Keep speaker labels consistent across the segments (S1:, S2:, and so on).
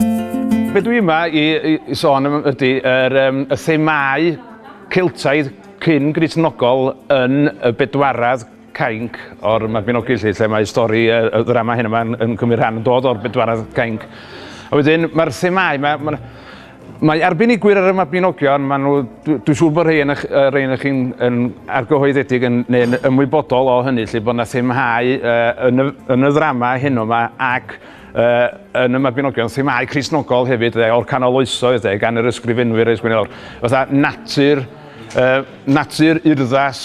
S1: Be dwi yma i, i, i sôn am ydy yr, um, y themau Celtaidd cyn Gristnogol yn y bedwaredd cainc o'r Mabinogi lle, lle mae stori y, y ddrama hyn yma yn, yn cymryd rhan yn dod o'r bedwaredd cainc. A wedyn mae'r themau, mae, mae, mae arbenigwyr ar y Mabinogion, maen nhw, dwi'n siŵr bod rhai yn, rhai yn chi'n yn argyhoeddedig yn, neu'n ymwybodol o hynny, lle bod yna themhau uh, yn, y, yn y ddrama hyn yma ac yn y Mabinogion, themâu Cristnogol hefyd, de, o'r canol oesoedd, de, gan yr ysgrifenwyr eis gwneud fatha natur, uh, natur urddas,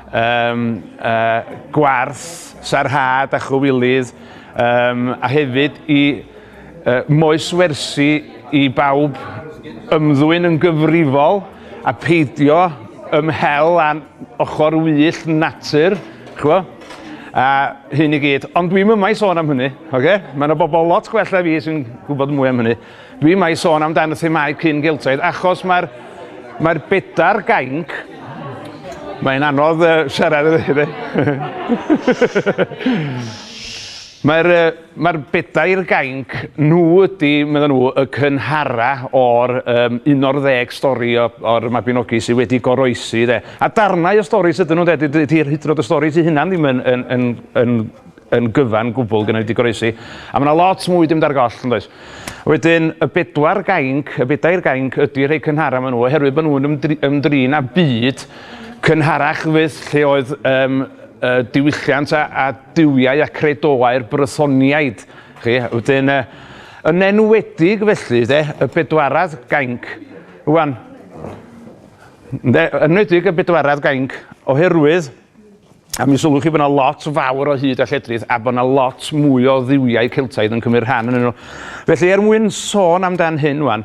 S1: um, uh, gwarth, sarhad a chywilydd, um, a hefyd i uh, moes wersi i bawb ymddwyn yn gyfrifol a peidio ymhel â ochr wyllt natur, ch'bo', a hyn i gyd. Ond dwi'm yma i sôn am hynny, ocê? Mae yna bobl lot gwell na fi sy'n gwybod mwy am hynny. Dwi yma i sôn amdan y themâu cyn geltaidd, achos mae'r mae bedair gainc... Mae'n anodd uh, siarad iddi. Mae'r uh, Mae'r bedair gainc, nhw ydy, medden nhw, y cynhara o'r um, 11 stori o, o'r Mabinogi sydd wedi goroesi. De. A darnau o stori sydyn nhw, de, dydy'r hydrod y stori sydd hynna'n ddim yn, yn, yn, yn yn gyfan gwbl gyda wedi goroesi. A mae yna lot mwy dim dar goll, yn does. Wedyn, y bedwar gainc, y bedair gainc ydy rhai cynhara maen nhw, oherwydd bod nhw'n ymdri, ymdrin â byd cynharach fydd lle oedd um, uh, diwylliant a, a duwiau a chredoau'r Brysoniaid. Chi, wedyn, uh, yn enwedig felly, de, y bedwarad gainc. Rwan, de, enwedig y bedwarad gainc, oherwydd A mi sylwch chi bod yna lot fawr o hyd a lledrith a bod yna lot mwy o ddiwiau Celtaidd yn cymryd rhan yn nhw. Felly, er mwyn sôn amdan hyn wan,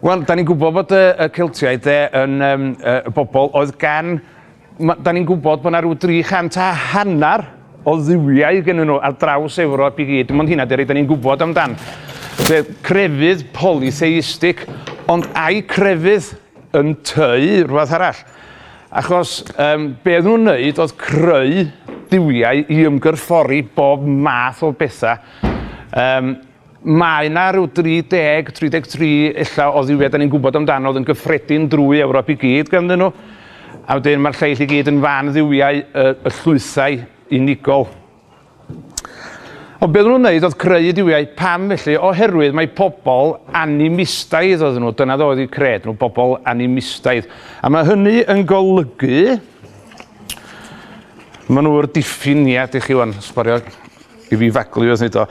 S1: Wel, da ni'n gwybod bod y, y Celtiaid de, yn um, y bobl oedd gan... Ma, da ni'n gwybod bod yna rhyw 300 a hanner o dduwiau gen nhw ar draws Ewrop i gyd. Dim ond hynna, Derry, da ni'n gwybod amdan. Fe crefydd polytheistig, ond ai crefydd yn teu rhywbeth arall? Achos um, be oedd nhw'n wneud oedd creu duwiau i ymgyrffori bob math o bethau. Um, Mae yna ryw 30, 33 ella o dduwiau dan ni'n gwybod amdano oedd yn gyffredin drwy Ewrop i gyd ganddyn nhw. A wedyn mae'r lleill i gyd yn fan dduwiau y, y llwythau unigol. Ond beth nhw'n wneud oedd creu duwiau. Pam felly? Oherwydd mae pobl animistaidd oedd nhw. Dyna ddoedd eu cred nhw, bobl animistaidd. A mae hynny yn golygu... Mae nhw'r diffiniad i chi wan, sborio I fi vaguely oedd neud o.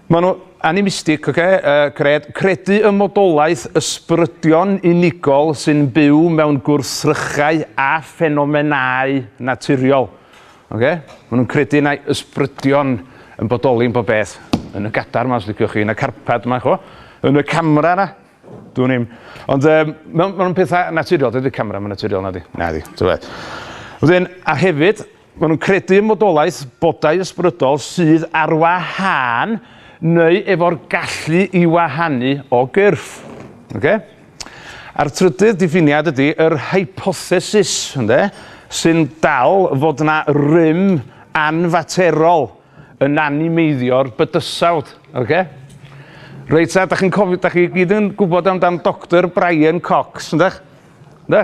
S1: Ma nhw animistic ocê yy gred- credu ym modolaeth ysbrydion unigol sy'n byw mewn gwrthrychau a ffenomenâu naturiol. Ocê? Ma nhw'n credu mai ysbrydion yn bodoli yn bob peth. Yn y gadar 'ma os liciwch chi, yn y carpad 'ma, ch'mo'? Yn y camera 'na. Dwn i'm. Ond yym ma' ma' nhw'n petha naturiol, dydi'r camera 'im yn naturiol nadi? Nadi. Tybed. Wedyn, a hefyd, Maen nhw'n credu ym modolaeth bodau ysbrydol sydd ar wahân neu efo'r gallu i wahanu o gyrff. Okay? A'r trydydd diffiniad ydy yr hypothesis, ynde, sy'n dal fod yna rym anfaterol yn animeiddio'r bydysawd. Okay? Reit, a da chi'n cofio, da chi gyd yn gwybod amdan Doctor Brian Cox, yndych? Ynde?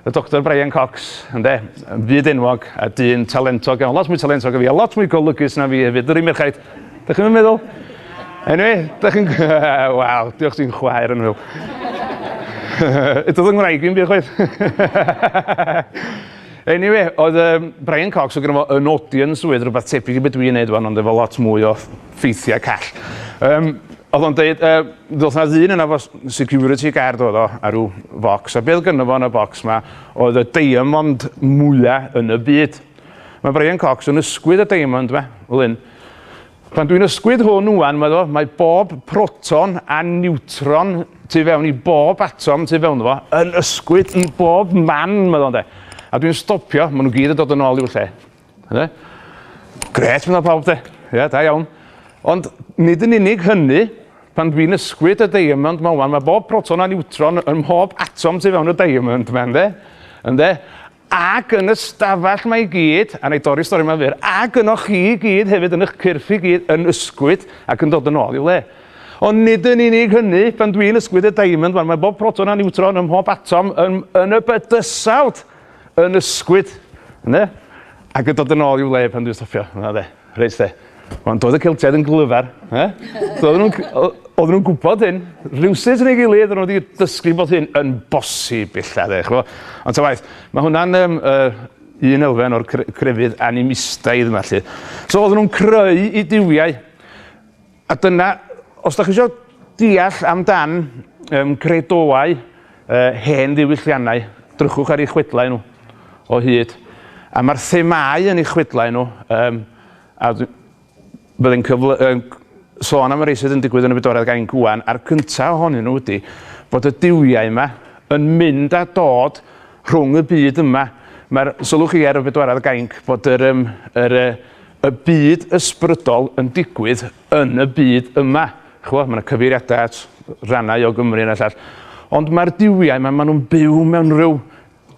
S1: Y Doctor Brian Cox, ynde? Yn fyd enwog a dyn talentog iawn. Lot mwy talentog o fi a lot mwy golygus na fi hefyd. Yr un merchaid. Dych chi'n meddwl? Anyway, dych chi'n... Wel, diolch ti'n chwaer yn hwyl. Eto ddyn ngwraig i'n byd chwaith. Anyway, oedd um, Brian Cox o gyda fo yn audience oedd rhywbeth tebyg i beth dwi'n neud wan, ond efo lot mwy o ffeithiau call. Um, oedd o'n dweud, uh, ddoth na ddyn yna fo security guard oedd o ar rhyw focs, a beth gynnu fo yn y bocs ma oedd y diamond mwyaf yn y byd. Mae Brian Cox yn ysgwyd y diamond ma, fel hyn. Pan dwi'n ysgwyd hwn wwan, mae, mae bob proton a niwtron tu fewn i bob atom tu fewn fo yn ysgwyd i bob man, mae ddo'n de. A dwi'n stopio, maen nhw gyd yn dod yn ôl i'w lle. Yna, gret fyna pawb de. Ia, da iawn. Ond nid yn unig hynny, pan dwi'n ysgwyd y diamond ma wan, mae bob proton a niwtron yn mhob atom tu fewn y diamond ma, ynddo? Ynddo? Ac yn y stafell mae i gyd, a wna dorri stori yma fyr, ac yno chi i gyd hefyd yn eich cyrff i gyd yn ysgwyd ac yn dod yn ôl i'w le. Ond nid yn unig hynny, pan dwi'n ysgwyd y diamond ma, mae bob proton a niwtron yn mhob atom yn, yn y bydysawd. yn ysgwyd, ynde? Ac yn dod yn ôl i'w le pan dwi'n stopio, yna de, reit de. Ond doedd y Celtiaid yn glyfar, e? Doedden nhw'n oedden nhw'n gwybod hyn, rhywsut yn ei gilydd, oedden nhw wedi dysgu bod hyn yn bosib illa, de, chwa. Ond ta waith, mae hwnna'n um, uh, un elfen o'r crefydd animistaidd yma, lle. So oedden nhw'n creu i diwiau A dyna, os da chi isio deall am dan um, gredoau uh, hen ddiwylliannau, drychwch ar ei chwedlau nhw o hyd. A mae'r themau yn ei chwedlau nhw, um, a byddai'n cyfle, um, sôn am y rei sydd yn digwydd yn y bedoredd gain gwan, a'r cyntaf ohonyn nhw ydy bod y duwiau yma yn mynd a dod rhwng y byd yma. Mae'r sylwch chi ar y bedwaredd gainc bod yr, um, yr, uh, y byd ysbrydol yn digwydd yn y byd yma. Chwa, mae yna cyfeiriadau at rannau o Gymru yna llall. Ond mae'r diwiau yma, maen nhw'n byw mewn rhyw...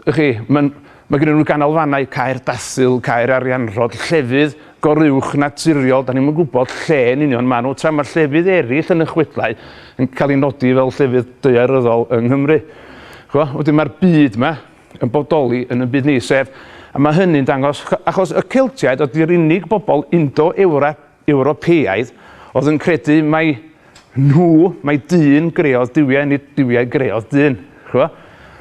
S1: Chi, mae, mae gen nhw ganolfannau cair dathil, cair arianrhod, llefydd goruwch naturiol, da ni'n gwybod lle yn union maen nhw, tra mae llefydd eraill yn y chwedlau yn cael ei nodi fel llefydd deuaryddol yng Nghymru. Chwa, wedyn mae'r byd yma, yn bodoli yn ein byd ni, sef, a mae hynny'n dangos, achos y Celtiaid oedd yr unig bobl Indo-Ewropeaidd oedd yn credu mai nhw, mai dyn greodd duwiau, nid duwiau greodd dyn. Chwa?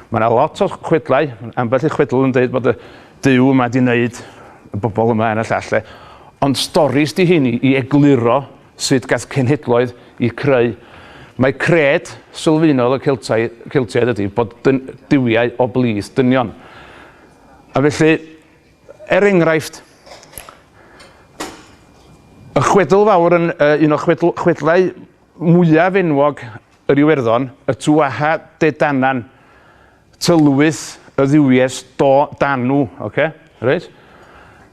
S1: Mae yna lot o chwedlau, ambell i chwedl yn dweud bod y dyw yma di wneud y bobl yma yn y llall. Ond storis di hyn i egluro Sut gath cenhedloedd eu creu? Mae cred sylfaenol y Celtaidd, Celtiaid ydi bod dyn, duwiau o blith, dynion. A felly, er enghraifft, y chwedl fawr yn uh, un o chwedl, chwedlau mwyaf enwog yr Iwerddon, y Tuaha De Danann, Tylwyth y dduwies do dan nhw. Oce? Reit?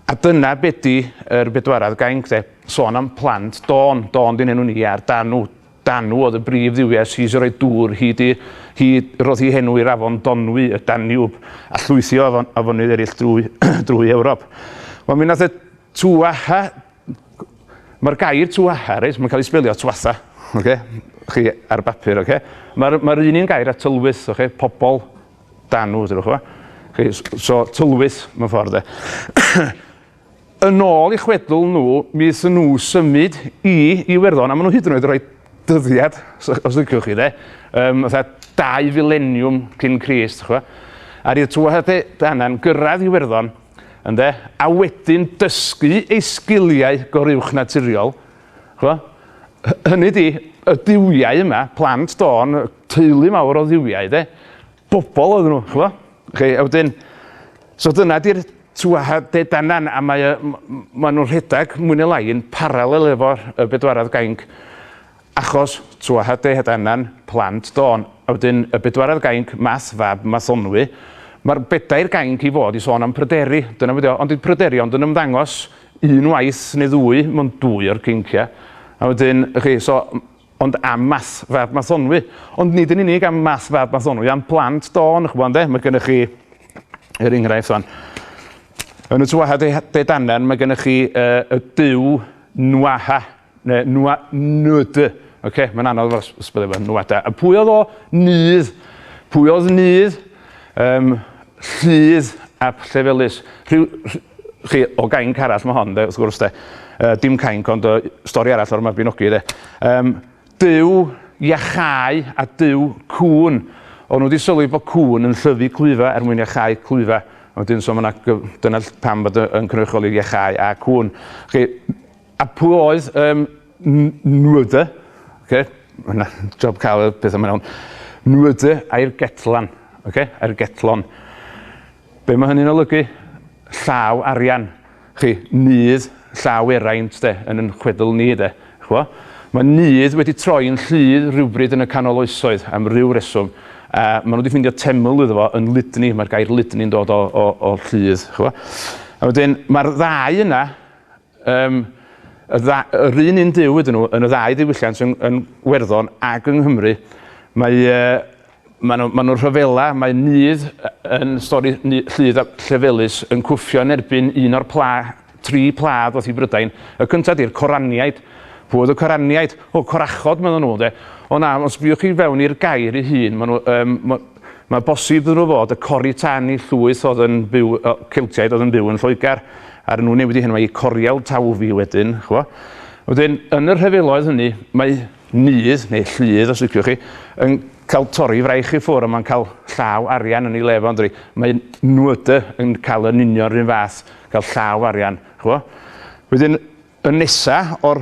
S1: A dyna be di yr bedwaredd gainc de. Sôn am plant. Dôn. Dôn di'n enw ni ar dan nhw. Dan nhw oedd y brif dduwies sydd wedi rhoi dŵr hyd i... hyd... roedd hi henw i'r afon Donwy, y Daniwb, a llwythi o afon- afonydd eraill drwy drwy Ewrop. Wel mi nath y Tuatha Mae'r gair tuatha, reit, mae'n cael ei sbelio tuatha, okay? chi ar bapur, okay? mae'r ma un un gair a tylwyth, okay? pobl dan nhw, ydych chi? So, tylwyth, mae'n ffordd e. yn ôl i chwedl nhw, mi ddyn nhw symud i Iwerddon, a maen nhw hyd yn oed rhoi dyddiad, os ydych chi, de, um, dau fileniwm cyn Crist, chwa. A rydd tuatha danna'n gyrraedd Iwerddon, Ynde? A wedyn dysgu ei sgiliau goruwchnaturiol. Ch'mo'? Hy- hynny 'di, y duwiau yma, plant Dawn, teulu mawr o dduwiau 'de. Bobol oedden nhw, ch'mo'? Chi, a wedyn... So dyna 'di'r tŵaha de dannan, a mae o... m- m- ma' nhw'n rhedeg, mwy ne' lai, yn paralel efo y bedwaredd gainc. Achos tua hade het annan plant dôn, a wedyn y bedwaredd gainc math fab math onwy. Mae'r bedair gainc i fod i sôn am pryderi, dyna be dio, ond dyw pryderi ond yn ymddangos un waith neu ddwy mewn dwy o'r geinciau. A wedyn, y'ch chi, so, ond am math fab math onwy. Ond nid yn unig am math fab math onwy, am blant dôn, y'ch ch'mod ynde, mae gennych chi, er enghraifft wan, yn y tua hade het annan mae gennych chi y duw Nwaha, Ne nwa nud. Oce mae'n anodd efo'r s- spelio fe. Nwada. A pwy oedd o? Nudd. Pwy oedd Nudd? Yym Lludd ap Llefelys. Rhyw rh- chi o gainc arall mae hon 'de wrth gwrs 'de. Yy dim cainc ond yy stori arall o'r Mabinogi 'de. Yym Duw iachau a Duw cŵn. O'n nhw 'di sylwi bod cŵn yn llyfu clwyfa er mwyn iachau clwyfa. A wedyn so mae 'na gyf- dyna ll- pam bod y yn cynrychioli iachau a cŵn. Chi A pwy oedd um, nwydde? Okay. Mae'n job cael y pethau mae'n iawn. Nwydde a'r getlan. Okay. A'r getlon. Be mae hynny'n olygu? Llaw arian. Chi, nydd llaw eraint de, yn yn chwedl ni de. Chwa? Mae nydd wedi troi'n llydd rhywbryd yn y canol oesoedd am ryw reswm. A maen nhw wedi ffeindio teml iddo fo yn Lydni. Mae'r gair Lydni'n dod o, o, o llydd. Chwa? A wedyn, mae'r ddau yna Yym, y dda- yr un un Duw ydyn nhw yn y ddau ddiwylliant yn yn Werddon ag yng Nghymru. Mae yy ma' nhw ma' nhw'n rhyfela, mae Nudd yy yn stori nu- Lludd a Llefelys yn cwffio yn erbyn un o'r pla- tri pla ddoth i Brydain. Y cynta 'di'r Coraniaid. Pw oedd y Coraniaid? O, Corachod medden nhw ynde? O na, os sbïwch chi fewn i'r gair ei hun ma' nhw yym ma' Mae bosib iddyn nhw fod y Cori Tan i llwyth oedd yn byw, o, Celtiaid oedd yn byw yn Lloegr, a nhw'n newid i henwau i Coriel Tawfi wedyn, chwa. Wedyn, yn y rhyfeloedd hynny, mae nydd, neu lludd os liciwch chi, yn cael torri fraich i ffwr a mae'n cael llaw arian yn ei le fo, ynddi. Mae nwyd yn cael yn union rhywun fath, cael llaw arian, chwa. Wedyn, y nesa o'r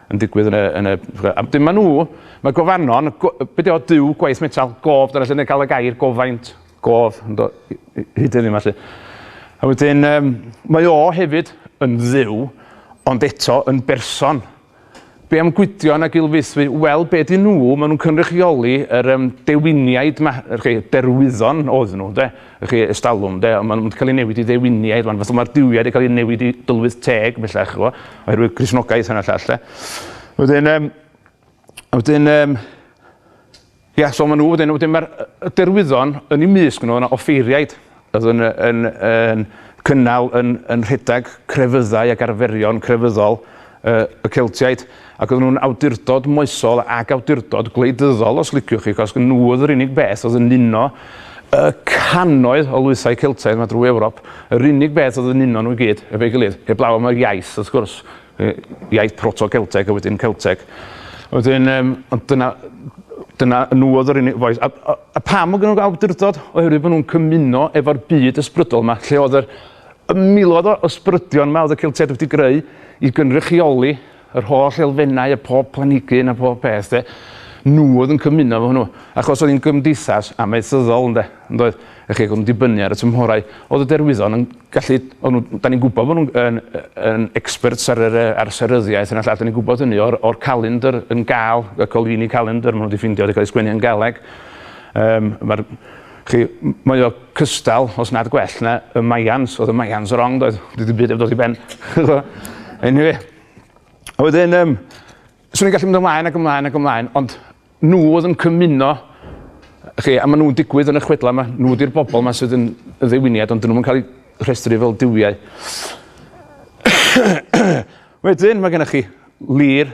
S1: yn digwydd yn y... yn y... a wedyn ma' nhw... ma' gofanon... go- be' 'di o? Duw, gwaith metel, gof, dyna lle ni'n cael y gair gofaint, gof, yn do- i- i- hyd heddiw 'ma 'lly. A wedyn yym mae o hefyd yn dduw ond eto yn berson. Be' am Gwydion a Gilfaethwy? Wel, be' 'dyn nhw? Ma' nhw'n cynrychioli yr yym dewiniaid 'ma, yr rhei derwyddon oedd nhw ynde? Ych chi, ers talwm, ynde? Ond maen nhw wedi cael eu newid i ddewiniaid rwan. Fatha mae'r duwiau wedi cael eu newid i dylwyth teg, bellach, chi'n gwybod, oherwydd Cristnogaeth hyn a llall, de. Wedyn, um, wedyn, um, ia, so maen nhw wedyn, wedyn mae'r derwyddon yn ei mysg nhw, yna offeiriaid, oedd yn, yn, yn, yn cynnal yn, yn rhedeg crefyddau ac arferion crefyddol y Celtiaid, ac oedden nhw'n awdurdod moesol ac awdurdod gwleidyddol os liciwch chi, achos nhw oedd yr unig beth oedd yn uno y cannoedd o lwythau Celtaidd yma drwy Ewrop, yr unig beth oedd yn uno nhw i gyd efo'i gilydd, heblaw am yr iaith wrth gwrs, iaith proto-Celteg a wedyn Celteg. Wedyn, um, ond dyna, dyna nhw oedd yr unig foes. A, a, a pam oedd nhw'n awdurdod? Oherwydd bod nhw'n cymuno efo'r byd ysbrydol yma, lle oedd yr Y miloedd o ysbrydion yma oedd y Celtiaid wedi greu i gynrychioli yr holl elfennau a phob planhigyn a phob peth, de. Nhw oedd yn cymuno efo hwnnw, achos oedd hi'n gymdeithas amaethyddol, ynde, yn doedd? Ych chi, ac oedd yn dibynnu ar y tymhorau. Oedd y derwyddon yn gallu... O'n nhw... Da ni'n gwybod bod nhw'n yn, yn experts ar yr, ar seryddiaeth yna llall, da ni'n gwybod hynny o'r, o'r calendr yn gal, y Colvini calendr, maen nhw wedi ffeindio wedi cael ei sgwennu yn Galeg. Um, Mae'r Chi, mae o cystal, os nad gwell na, y Mayans. Oedd y Mayans wrong, doedd? Dwi ddim byd yn dod i ben. anyway. A wedyn, um, swn i'n gallu mynd ymlaen ac ymlaen ac ymlaen, ond nhw oedd yn cymuno chi, a maen nhw'n digwydd yn y chwedlau yma, nhw ydy'r bobl yma sydd yn ddewiniad, ond dyn nhw'n cael eu rhestru fel diwiau. wedyn, mae gennych chi Lir,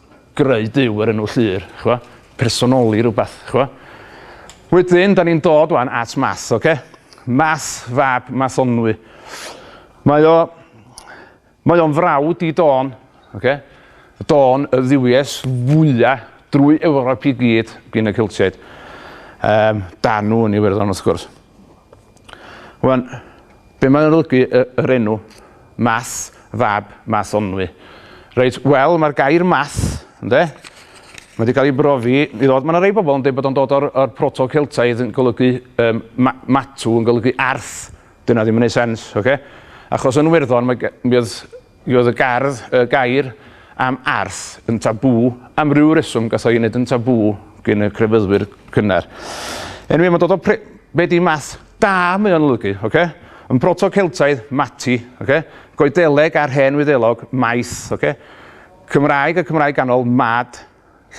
S1: greu Duw yr enw Llŷr, ch'bo', personoli rwbath, ch'bo'. Wedyn, da ni'n dod wan at Math, oce? Math fab Mathonwy. Mae o... Mae o'n frawd i Dôn, oce? Dôn, y dduwies fwya drwy Ewrop i gyd gin y Celtiaid. Yym, Danw yn Iwerddon, wrth gwrs. Wan, be mae'n olygu y, yr enw Math fab Math Onwy? Reit, wel, mae'r gair math, ynde? Mae wedi cael ei brofi i ddod, mae yna rei bobl yn dweud bod o'n dod o'r, or proto-Celtaidd yn golygu um, ma, matw, yn golygu arth. Dyna ddim yn ei sens, oce? Okay? Achos yn Werddon, mae, mi oedd Mi oedd y gerdd, y gair, am arth yn tabŵ, am ryw reswm gath o'i wneud yn tabŵ gin y crefyddwyr cynnar. Anyway, mae'n dod o pre... Be di math? Da mae o'n olygu, oce? Yn Proto-Celtaidd, mati, oce? Goedeleg a'r Hen Wyddelog, maith, oce? Cymraeg a Cymraeg Ganol, mad,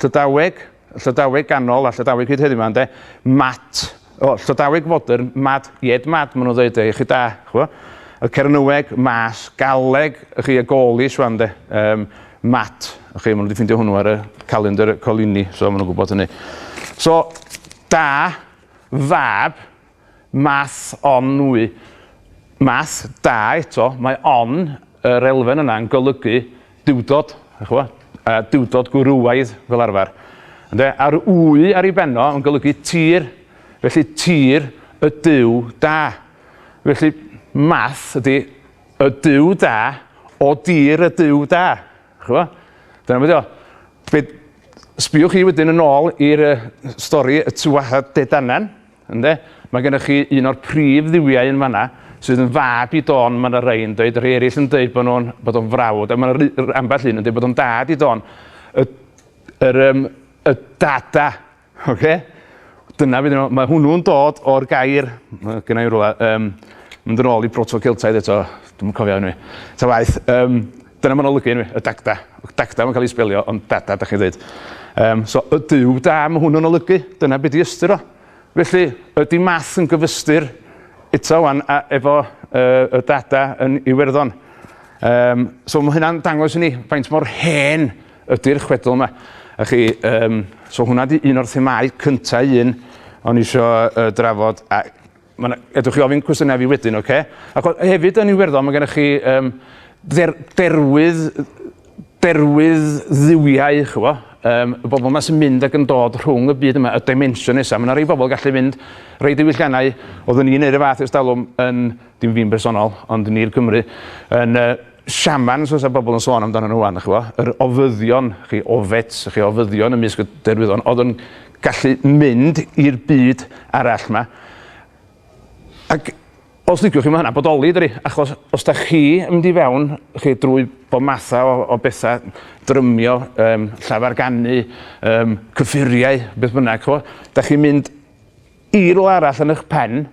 S1: Llydaweg, Llydaweg ganol a Llydaweg hyd heddiw 'ma ynde, mat, o, Llydaweg fodern, mad, ied mad ma' nhw'n ddeud de, iechyd da, ch'bo'. Y Cernyweg, mas, Galeg, chi, y Gaulish 'wan de, yym, mat, chi, ma' nhw 'di ffindio hwnnw ar y calendr Coligny, so ma' nhw'n gwbod hynny. So, da, fab, Math o nwy. Math da eto, mae on yr elfen yna yn golygu duwdod, dach chi'n gwybod, a duwdod gwrywaidd fel arfer. Ynde? A'r wy ar ei benno yn golygu tir, felly tir y Duw da. Felly math ydy y Duw da o dir y Duw da. Dach chi'n gwybod? Dyna beth ydy o. Be, sbiwch chi wedyn yn ôl i'r uh, stori y Tuaha De Danann, Ynde? Mae gennych chi un o'r prif dduwiau yn fanna sydd yn fab i Don, mae yna rhai yn dweud, rhai eraill yn dweud bod nhw'n bod o'n frawd, a mae yna ambell un yn dweud bod o'n dad i Don. Y, yr, um, y dada, oce? Okay? Dyna fe, mae hwnnw'n dod o'r gair, mae gennau rhywle, um, mynd yn ôl i proto-Celtaidd eto, dwi'n cofio hynny, ta waith, um, Dyna ma'n olygu enw i, y Dagda. Dagda ma'n cael ei sbelio ond Dada dach chi'n ddeud. Yym so y Duw da ma' hwn yn olygu, dyna be' 'di ystyr o. Felly ydi Math yn gyfystyr eto ŵan a- efo yy y Dada yn Iwerddon? Yym so ma' hynna'n dangos i ni faint mor hen ydi'r chwedl 'ma. A chi yym so hwnna 'di un o'r themâu cynta un o'n i isio yy drafod a Mae'n edrych chi ofyn cwestiynau fi wedyn, oce? Okay? Ac o, hefyd yn Iwerddon mae gennych chi um, der, derwydd, derwydd ddiwiau, chyfo, um, y bobl yma sy'n mynd ac yn dod rhwng y byd yma, y dimension nesaf. Mae yna rei bobl gallu mynd rei diwylliannau, oeddwn i'n neud y fath erstalwm yn, dim fi'n bersonol, ond ni'r Cymru, yn uh, siamans fysa bobl yn sôn amdano nhw wan, chyfo, yr ofyddion, chi ofets, chi ofyddion ymysg y derwyddon, oedd yn gallu mynd i'r byd arall 'ma ac os liciwch chi ma' hwnna'n bodoli dydi achos os 'dach chi yn mynd i fewn chi drwy bob matha o o betha drymio yym llafar ganu yym cyffuriau beth bynnag ch'mo' 'dach chi'n mynd i rywle arall yn 'ych pen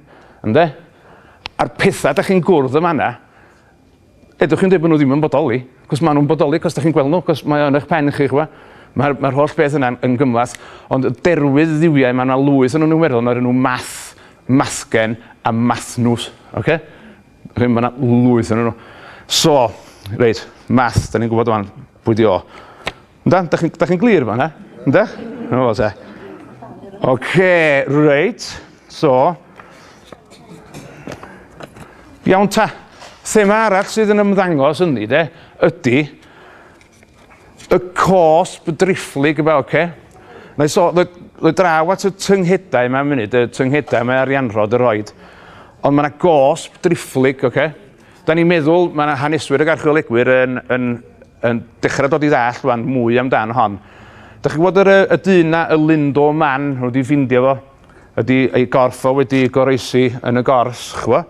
S1: ynde? A'r petha 'dach chi'n gwrdd yn fan 'na Ydych chi'n dweud bod nhw ddim yn bodoli? Cos maen nhw'n bodoli, cos da chi'n gweld nhw, cos mae yn eich pen chi, chwa. Mae'r mae holl beth yna yn gymlath, ond y derwydd ddiwiau, mae yna lwyth yn nhw'n Iwerddon, mae nhw math, mathgen a mathnws. Okay? Mae yna lwyth yn nhw. So, reit, math, da ni'n gwybod o'n pwy di o. Yndan? Da chi'n da chi glir fan, ha? Ynda? Yna fo, te. Oce, reit. So. Iawn ta. Thema arall sydd yn ymddangos yn ni, de, ydy y cosb drifflig yma, oce? Okay? Mae so, roi draw at y tynghedau yma munud, y tynghedau mae arianrhod yr oed. Ond mae yna gosb drifflig, oce? Okay? Dan ni'n meddwl, mae yna haneswyr ac archeolegwyr yn, yn, yn dechrau dod i ddall rwan mwy amdan hon. Da chi'n gwybod yr, y dyn na, y Lindo man, nhw wedi ffindio fo, ydy ei gorff o wedi goroesi yn y gors, chwa,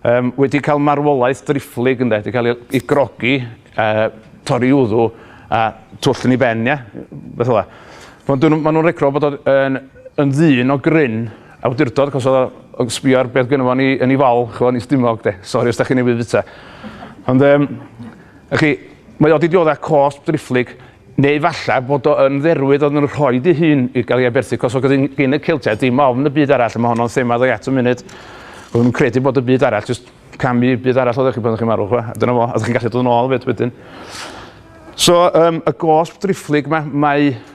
S1: um, wedi cael marwolaeth drifflig ynde, wedi cael ei, ei grogi, uh, torri wddw a twll yn ei ben, ia, beth ola. Maen nhw'n regro bod o'n yn ddyn o gryn Awdurdod achos odd o yn sbio ar beth gynno fo yn 'i yn 'i fal ch'mo' yn 'i stumog 'de. Sori os 'dach chi'n newydd fita. Ond yym wch chi mae o 'di diodda' cosb driphlyg neu falla bod o yn dderwydd o'dd yn rhoid 'i hun i ga'l 'i aberthu 'c'os o'dd gin gin y Celtiaid dim ofn y byd arall a ma' honno'n thema ddo' i at y munud. O'n nw'n credu bod y byd arall jyst cam i byd arall oddach chi pan o'ch chi'n marw ch'mo' a dyna fo a 'dych chi'n gallu dod yn ôl 'fyd wedyn. So yym y gosb driphlyg 'ma mae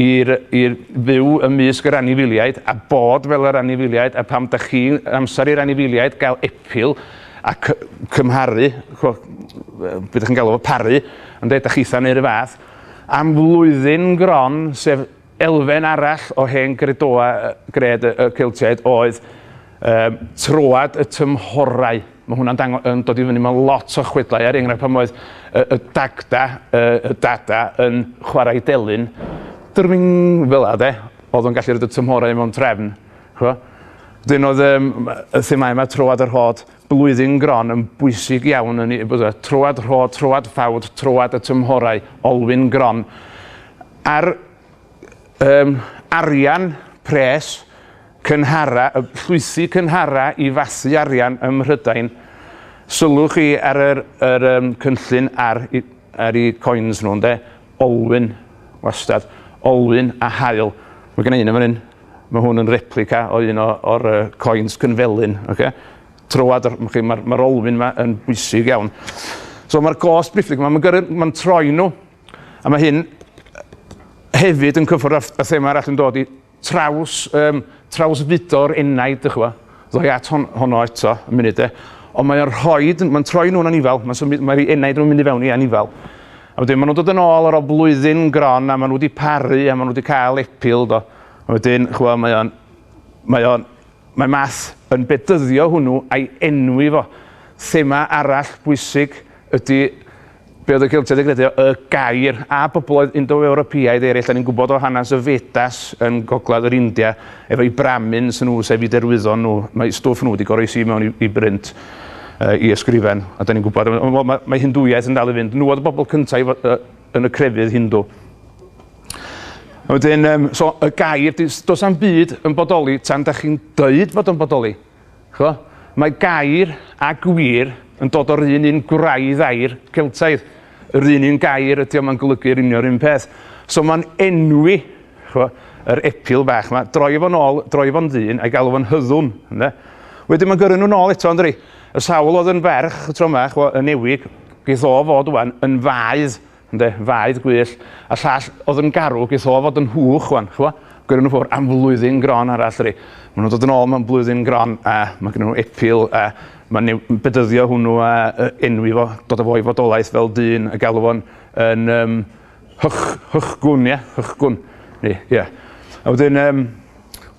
S1: i i fyw ymysg yr anifeiliaid a bod fel yr anifeiliaid a pam dach chi'n amser i'r anifeiliaid gael epil a cy- cymharu ch'o' be' dych chi'n galw fo paru ynde dach chitha'n neu' 'r un fath am flwyddyn gron sef elfen arall o hen gredoau yy gred y y Celtiaid oedd yym troad y tymhorau. Mae hwnna'n dango- yn dod i fyny mewn lot o chwedlau, er enghraifft pan oedd y, y dagda, y, y dada yn chwarae delyn, drwing, fel la de, oedd o'n gallu rhoi y tymhorau mewn trefn, chwa. Dyn oedd um, y themau yma, troad yr hod, blwyddyn gron yn bwysig iawn yn ei bod e, troad rhod, troad ffawd, troad y tymhorau, olwyn gron. A'r um, arian pres Cynghara, llwysi cynghara i fasu arian ym Mhrydain. Sylwch chi ar yr, yr um, cynllun ar, ar i coins nhw, ynde? Olwyn, wastad. Olwyn a hael. Mae gen i un yn fan hyn. Mae hwn yn replica o un o'r uh, coins cynfelyn. Okay? Trywad, mae'r ma, ma olwyn yma yn bwysig iawn. So mae'r gos briffig yma, mae'n ma troi nhw. A mae hyn hefyd yn cyffwrdd â thema arall yn dod i traws yym trawsfudo'r enaid dych ch'mo'. Ddoi at hon- honno eto yn munud de. Ond mae o'n rhoid ma'n troi nhw'n anifail ma'n symud mae'r enaid yn mynd i fewn i anifail. A wedyn ma' nhw'n dod yn ôl ar ôl blwyddyn gron a ma' nhw 'di paru a ma' nhw 'di cael epil do. A wedyn ch'mo' mae o'n mae o'n mae math yn bedyddio hwnnw a'i enwi fo. Thema arall bwysig ydy Be oedd y Celtiaid yn credu y gair, a bobloedd Indo-Ewropeaidd eraill, da ni'n gwybod o hanes y Vedas yn gogledd yr India, efo'u Brahmins nhw, sef eu derwyddon nhw, mae stwff nhw wedi goroesi mewn i, i brint, uh, i ysgrifen, a da ni'n gwybod, wel, mae, mae Hindwyaeth yn dal i fynd, nhw oedd y bobl cyntaf i, uh, yn y crefydd Hindw. Wedyn, um, so, y gair, does am byd yn bodoli tan da chi'n dweud fod yn bodoli. Ch'mo'? Mae gair a gwir yn dod o'r un un gwraidd air Celtaidd. Yr un un gair ydi o, mae'n golygu yr union un peth. So mae'n enwi, ch'mo', yr epil bach 'ma, droi fo'n ôl, droi fo'n ddyn, a'i galw fo'n hyddwn, ynde? Wedyn mae'n gyrru nhw'n ôl eto, yndydi? Y sawl oedd yn ferch y tro 'ma, ch'mo', yn ewig, geith o fod ŵan yn faedd Ynde? Faedd gwyllt. A llall o'dd yn garw geth o fod yn hwch ŵan, ch'mo'? Gweud yn fowr am flwyddyn gron arall ry. Ma' nw'n dod yn ôl mewn blwyddyn gron a ma' gynnyn nw epil a ma' new- m- bedyddio hwnnw a yy enwi fo, dod â fo i fodolaeth fel dyn a galw fo'n yn yym hych- hychgwn ie? Hychgwn. Ni, ie. A wedyn yym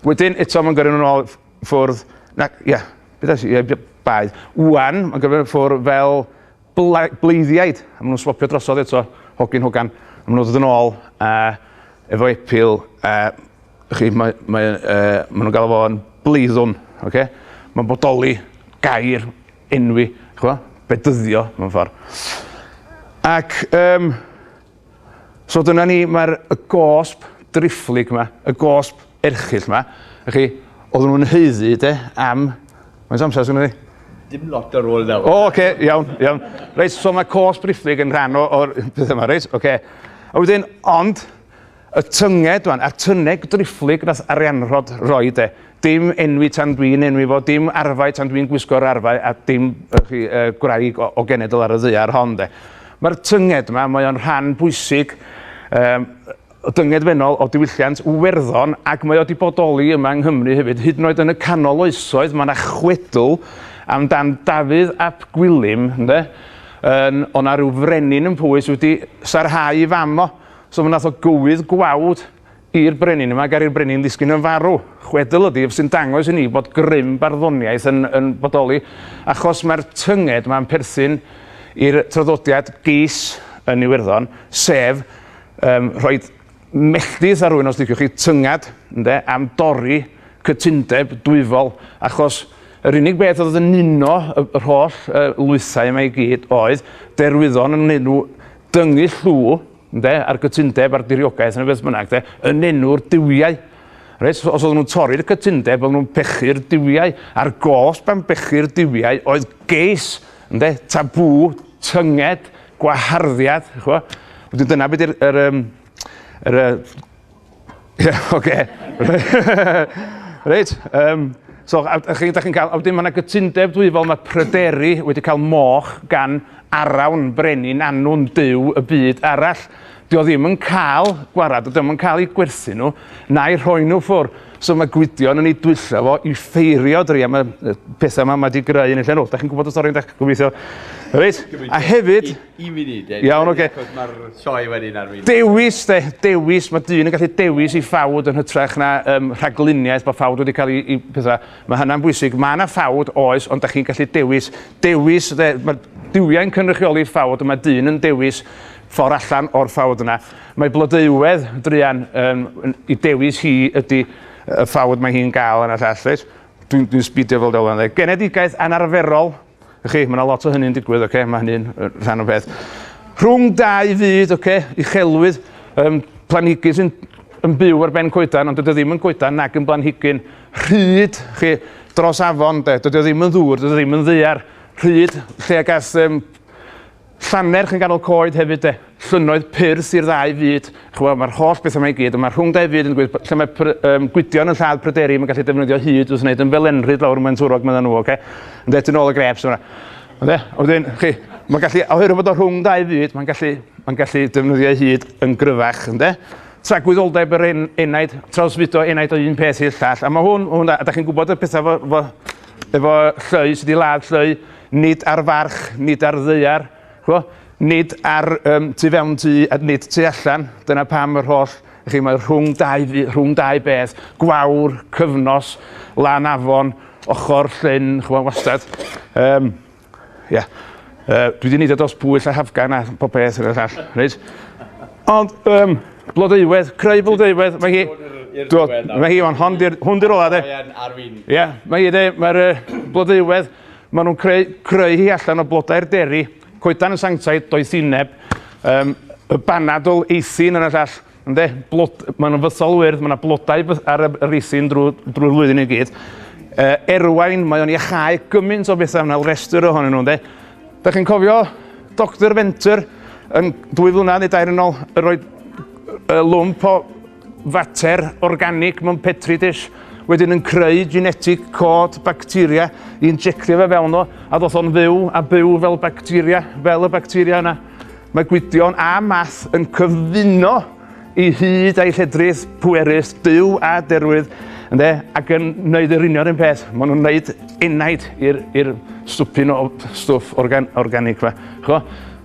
S1: wedyn eto ma'n gyrru nw nôl ff- ffwrdd nac ia be' ddesh i yy by- baedd. Ŵan ma'n gyrru fe ffwr' fel Bleiddiaid, a maen nhw'n swopio drosodd eto, hogyn hogan, a maen nhw'n dod yn ôl uh, efo epil, uh, chi, mae, mae, uh, maen nhw'n gael fo'n bleiddwn, okay? mae'n bodoli gair enwi, chwa, bedyddio mewn ffordd. Ac, um, So dyna ni, mae'r y gosb driphlyg yma, y gosb erchill yma, a chi, oedden nhw'n heiddi, de, am... Mae'n amser sy'n ni? Dim lot ar ôl
S2: nawr. O, oce, okay, iawn, iawn.
S1: Reit, so mae cosb driphlyg yn rhan o'r peth yma, reit, oce. Okay. A wedyn, ond, y tynged, dwan, a'r tynneg driphlyg nath arianrhod roi, de, Dim enwi tan dwi'n enwi fo, dim arfau tan dwi'n gwisgo'r arfau, a dim uh, chi, uh, gwraig o, o genedl ar y ddaear hon de. Mae'r tynged yma, mae o'n rhan bwysig um, dyngedfennol o diwylliant Werddon ac mae o wedi bodoli yma yng Nghymru hefyd. Hyd yn oed yn y canol oesoedd mae yna chwedl amdan Dafydd ap Gwilym, ynddo? yn, o na rhyw frenin yn Pwys wedi sarhau i fam o. So fe nath o gywydd gwawd I'r brenin yma, gair i'r brenin ddisgyn yn farw. Chwedl ydy ef sy'n dangos i ni bod grym barddoniaeth yn yn bodoli achos mae'r tynged yma'n perthyn i'r traddodiad geis yn Iwerddon, sef yym rhoi melltith ar rywun os liciwch chi, tynged, ynde, am dorri cytundeb dwyfol achos yr unig beth oedd yn uno y- yr holl yy lwythau yma i gyd oedd derwyddon yn wneud nhw dyngu llw ynde, a'r gytundeb a'r diriogaeth neu beth bynnag, de, yn enw'r duwiau. Reit, os oedden nhw'n torri'r cytundeb, oedden nhw'n pechu'r duwiau, a'r gosb am bechu'r duwiau oedd geis, ynde, tabŵ, tynged, gwaharddiad, chwa. Wedyn dyna beth yw'r er, er, er, Ie, yeah, oce. Okay. Reit, um, So, a, a chi, da chi'n cael, a wedyn mae yna gytundeb dwi fel mae pryderu wedi cael moch gan arawn brenin anwn dyw y byd arall. Dio ddim yn cael gwarad, dio ddim yn cael ei gwerthu nhw, na'i rhoi nhw ffwr. So mae Gwydion yn ei dwyllo fo i ffeirio dri am y pethau yma mae wedi greu yn y llenwch. Da chi'n gwybod y stori yn dech gobeithio. Reit, a hefyd... Un munud, Ed.
S2: Iawn, oce. Achos mae'r
S1: sioe
S2: wedyn ar fynd. Dewis, de, dewis.
S1: Mae dyn yn gallu dewis i ffawd yn hytrach na um, rhagluniaeth bod ffawd wedi cael ei, ei pethau. Mae hynna'n bwysig. Mae yna ffawd, oes, ond da chi'n gallu dewis. Dewis, de, mae diwiau'n cynrychioli ffawd, mae dyn yn dewis ffordd allan o'r ffawd yna. Mae blodeuwedd, druan, um, i dewis hi ydy y ffawd mae hi'n gael yna llall, reis. Dwi'n dwi sbidio fel dylan, dde. Genedigaeth anarferol, Y'ch chi, mae yna lot o hynny'n digwydd, okay? mae hynny'n rhan o beth. Rhwng dau fyd, okay? uchelwydd, um, planhigyn sy'n yn byw ar ben coedan, ond dydy o ddim yn coedan nag yn blanhigyn rhyd chi dros afon, de. dydy o ddim yn ddŵr, dydy o ddim yn ddear rhyd lle ag ath um, Llannerch yn ganol coed hefyd 'de. Llynnoedd pur sy'r ddau fyd. Ch'mo' ma'r holl betha 'ma i gyd, on' ma' rhwng dau fyd yn gwir b- lle mae pry- yym Gwydion yn lladd pryderi ma'n gallu defnyddio hud wrth wneud ymfelenrhyd lawr yn Maentwrog meddan nhw oce? Ynde tu nôl y grêps yma. Ynde? A wedyn chi ma'n gallu oherwydd bod o rhwng dau fyd ma'n gallu ma'n gallu defnyddio ei hud yn gryfach ynde? Tragwyddoldeb yr en- enaid, trawsfudo enaid o un peth i'r llall a ma' hwn ma' hwn a a 'dach chi'n gwbod y petha 'fo 'fo efo llwy sy 'di ladd llwy Nid ar farch, nid ar ddaear, ch'mo', nid ar yym tu fewn tŷ a nid tu allan, dyna pam yr holl, chi, mae rhwng dau fu- rhwng dau beth, gwawr, cyfnos, lan afon, ochr llyn, ch'mo' wastad. Yym ia. Yy dwi 'di neud o dros Pwyll a Hafgan a pob peth ar y llall, reit? Ond yym Blodeuwedd, creu Blodeuwedd, mae hi Do, mae hi on' hon 'di'r hwn 'di'r ola de. Mae yn arweinydd. Ia, mae hi de, mae'r yy Blodeuwedd Maen nhw'n creu, creu hi allan o blodau'r deri, coedan yn sanctaidd, doethineb, um, y banadl, eithin yn y llall, ynddo, blod, maen nhw'n fythol wyrdd, mae yna blodau ar yr eithin drwy, drwy flwyddyn i gyd. Uh, erwain, mae o'n iachau gymaint o bethau yna, restr ohonyn nhw, ynddo. Da chi'n cofio Dr Venter yn dwy flynedd neu dair yn ôl, yr oed lwmp o fater organig mewn petri dish, wedyn yn creu genetic cod bacteria i injectio fe fewn o, a ddoth o'n fyw a byw fel bacteria, fel y bacteria yna. Mae Gwydion a Math yn cyfuno i hyd a'i lledrith pwerus, byw a derwydd, ynde, ac yn wneud yr union un peth. Maen nhw'n wneud enaid i'r stwpyn o stwff organ, organic fa. Chwa?